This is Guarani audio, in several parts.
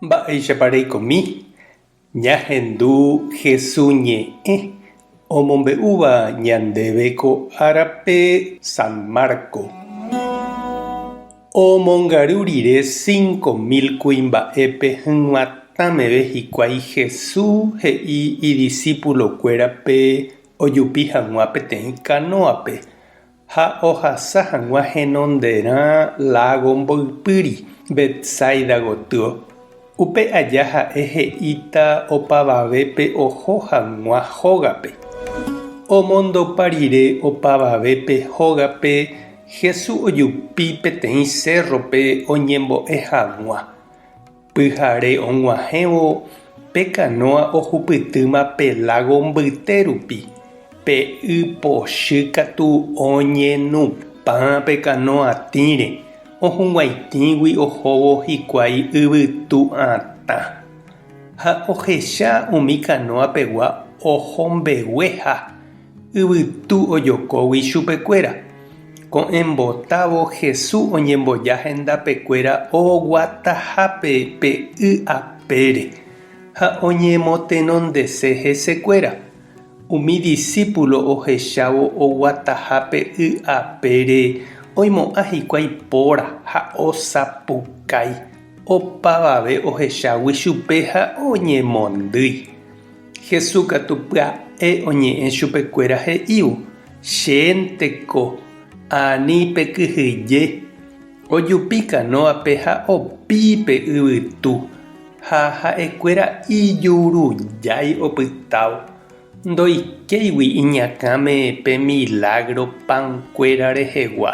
Mba'éichapa reikomi ñahendu Hesu ñe'ẽ omombe'úva ñandéve ko árape San Marco? Omongaru rire cinco mil kuimba'épe hyg̃uatã meve hikuái Hesu he'i idisipulokuérape ojupi hag̃ua peteĩ kanóape Ha ohasa hag̃ua henonderã lágo mboypýri, Betsaida gotyo. Upe aja ha'e he'íta opavavépe oho hag̃ua hógape. Omondopa rire opavavépe hógape, Jesús ojupi peteĩ cérrope oñembo'e hag̃ua. Pyhare og̃uahẽvo pe kanóa ohupytýma pe lágo mbyte rupi, pe y pochy katu oñenupã pe kanóa tĩre, ohug̃uaitĩgui ohóvo hikuái yvytu atã. Ha ohecha umi kanóa pegua oho mbegueha. Yvytu ojokógui ichupekuéra. Ko'ẽ mbotávo Hesu oñemboja hendapekuéra oguatahápe pe y apére ha oñemotenondese hesekuéra. Umi disípulo ohechávo oguataha pe y apére oimo'ã hikuái póra ha osapukái. Opavave ohechágui chupe ha oñemondýi. Jesús katu pya'e oñe'ẽ chupekuéra he'ívo, Chénte ko, ani pe kyhyje, ojupi kanóape ha opi pe yvytu. Ha ha'ekuéra ijurujái opytávo. Ndoikéigui iñakãme pe milágro pankuéra rehegua,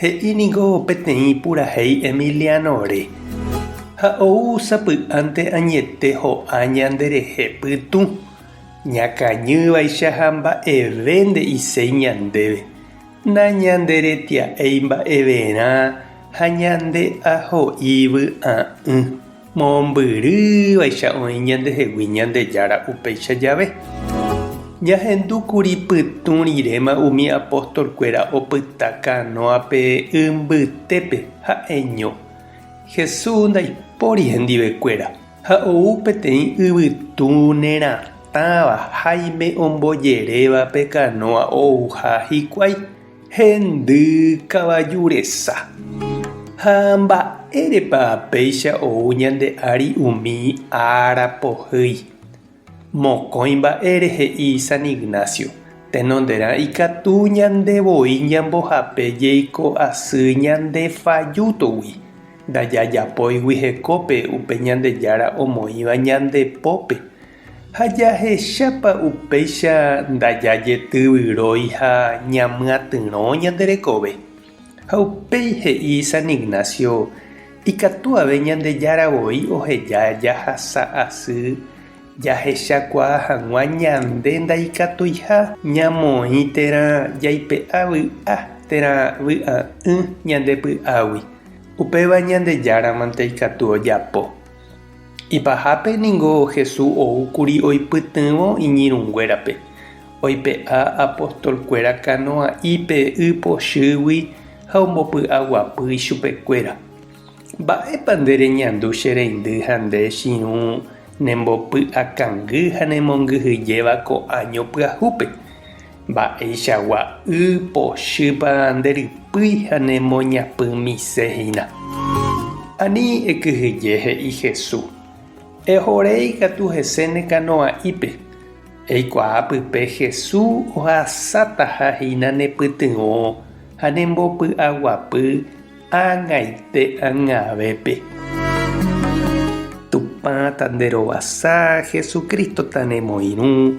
He'i niko peteĩ purahéi Emiliano-re, ha ou sapy'ánte añete ho'a ñanderehe pytũ, ñakañývaicha ha mba'eve nde'iséi ñandéve, nañanderetia'éi mba'everã ha ñande aho'i vy'a'ỹ. Mombyry vaicha oĩ ñandehegui Ñandejára upéicha jave. Jahendu kuri pytũ riréma umi apóstol kuéra opyta kanóape y mbytépe ha'eño. Jesús ndaipóri hendive kuéra ha ou peteĩ yvytu neratãva Jaime ombojerévape kanóa ouha hikuái. Hendy kavaju resa. Ha mba'érepa péicha ou ñande ári umi ára pohýi? Mokõi mba'e rehe'i San Ignacio, tenonderã ikatu ñande voi ñambohape jeiko asy ñande fajútogui, ndajajapóigui hekópe upe Ñandejára omoĩva ñande pópe. Ha jahechápa upéicha ndajajetývyrõi ha ñamyatyrõ ñande rekove? Ha upéi he'i San Ignacio, Ikatuave Ñandejára voi oheja jahasa asy jahechakuaa hag̃ua ñande ndaikatuiha ñamoĩ térã jaipe'a vy'a térã vy'a'ỹ ñande py'águi. Upéva Ñandejáramante ikatu ojapo. Ipahápe ningo Hesu ou kuri oipytyvõ iñirũnguérape, oipe'a apostolkuéra kanoa'ípe y pochýgui ha ombopy'aguapy ichupekuéra. Mba'épa nde reñandu che reindy ha nde chirũ nembopy'akangy ha nemongyhyjéva ko áño pyahúpe? Mba'eichagua y pochýpa nde rypýi ha ne moñapy mise hína? Ani ekyhyje, he'i Hesu. Ehoréi katu hese ne kanoa'ípe. Eikuaa pype Hesu ohasátaha hína ne pytyvõ ha ne mbopy'aguapy ág̃aite ág̃avépe. Tupã ta nde rovasa, Jesucristo ta ne moirũ.